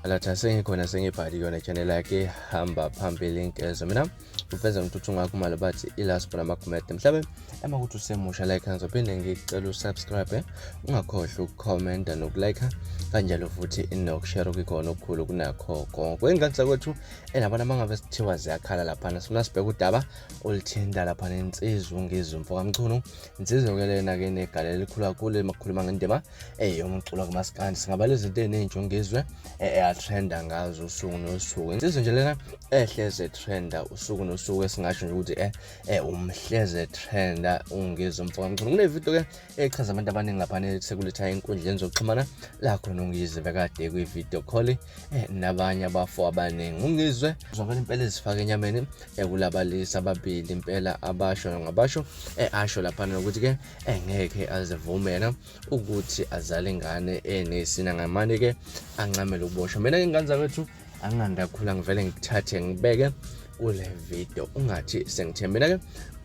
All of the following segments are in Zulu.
Alatha sengikhona sengibhali kuyona channel yakhe hamba phambili nkezo mina ufeza ngithuthi ngakho mali bathi ilast bona makumede mhlabe ema ukuthi usemusha like ngizophinde ngicela usubscribe eh? ungakhohlwa ukukhomenta nokulike kanjalo futhi nokushare kukhona okukhulu kunakho konke kwengikangisa kwethu enabona mangabe sithiwa ziyakhala laphana sifuna sibheke udaba olithinta laphana insizwa ungizumfo kamchunu Insizwa ke lena ke negala elikhulu kakhulu emakhuluma ngendima eh yomculo kamaskandi singabala izinto ezinjongezwe eh, eh atrenda ngazo usuku nosuku insizwa nje lena ehleze eh, trenda usuku nosuku esingasho nje ukuthi eh, eh umhleze trenda ungizwe mfoka mculo kune video ke echaza abantu abaningi lapha sekuletha enkundleni zokuxhumana lakho nongizwe bekade kwi video call eh, nabanye abafo abaningi ungizwe zovela impela ezifaka enyameni ekulabalisa eh, ababili impela abasho ngabasho eh, asho lapha nokuthi ke engeke azivumela ukuthi azale ingane enesina ngamane ke ancamele ukuboshwa mina ke ngane zakwethu anganda khula ngivele ngikuthathe ngibeke kule video ungathi sengithembela ke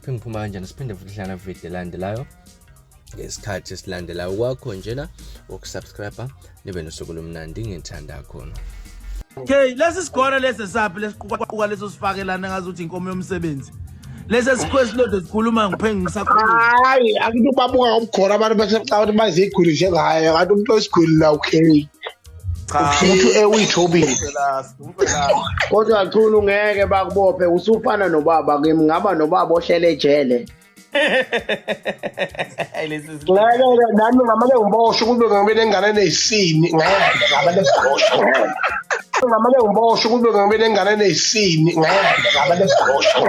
phinde ngiphuma kanjani siphinde futhi hlala video elandelayo ngesikhathi esilandelayo kwakho njena ukusubscribe nibe nosuku lomnandi ngithanda khona okay lesi sigora lesi saphi lesiqukaquka leso sifakelana ngazi ukuthi inkomo yomsebenzi lesi sikhwesi lode sikhuluma ngiphengi ngisakhuluma hayi akuthi ubabuka ngomgora abantu bese xa ukuthi baziguli njengaye kanti umuntu osiguli la okay umuntu ewithobile kodwa chulu ngeke bakubophe usufana nobaba kimi ngaba nobaba ohlele ejele nami ngamane ngiboshwe kube ngibe nengane eneyisini ngeke ngamane ngiboshwe ngamane ngiboshwe kube ngibe nengane eneyisini ngeke ngamane ngiboshwe